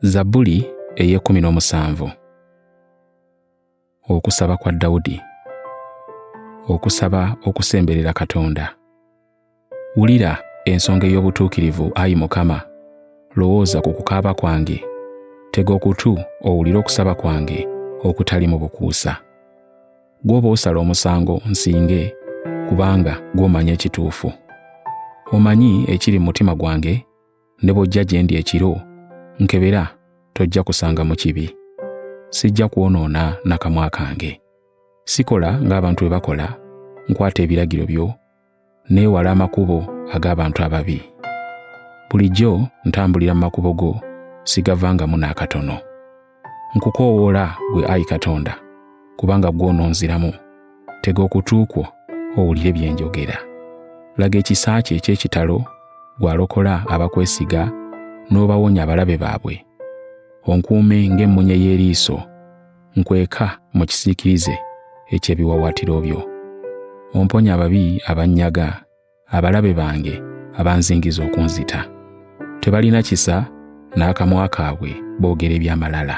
Zabbuli ey'ekkumi n'omusanvu. Okusaba kwa Dawudi. Okusaba okusemberera Katonda. Wulira ensonga ey'obutuukirivu, ayi Mukama, lowooza ku kukaaba kwange, tega okutu owulire okusaba kwange okutali mu bukuusa. gw'oba osala omusango nsinge kubanga gw'omanyi ekituufu omanyi ekiri mu mutima gwange ne bw'ojja gye ndi ekiro nkebera tojja kusanga mu kibi sijja kwonoona nakamwa kange sikola ng'abantu bwe bakola nkwata ebiragiro byo neewala amakubo ag'abantu ababi. Bulijjo ntambulira mu makubo go, sigavangamu n'akatono. Nkukoowoola gwe ayi Katonda, kubanga gw'ononziramu. Tega okutu kwo owulire bye njogera. Laga ekisa kye eky'ekitalo gw'alokola abakwesiga n'obawonya abalabe baabwe. Onkuume ng'emmunye y'eriiso nkweka mu kisiikirize eky'ebiwawaatiro byo. Omponye ababi abannyaga, abalabe bange abanzingiza okunzita. Tebalina kisa n'akamwa kaabwe boogera eby'amalala.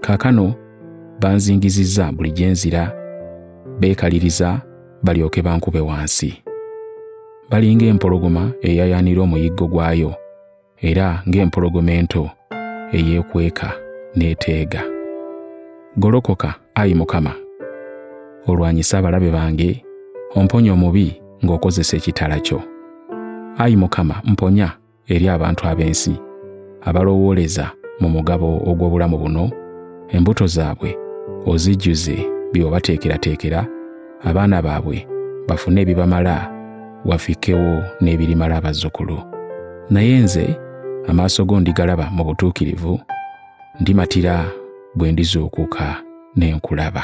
Kaakano banzingizizza buli gye nzira, beekaliriza balyoke bankube wansi. Balinga empologoma eyayaanira omuyiggo gwayo, era ng'empologoma ento eyeekweka n'eteega. Golokoka, ayi Mukama, olwanyise abalabe bange, omponye omubi ng'okozesa ekitala kyo. Ayi Mukama, mponya eri abantu ab'ensi abalowooleza mu mugabo ogw'obulamu buno, embuto zaabwe ozijjuze by'obateekerateekera abaana baabwe bafune ebibamala wafikewo n'ebirimala abazzukulu naye nze amaaso go ndigalaba mu butuukirivu ndimatira bwe ndizuukuka ne nkulaba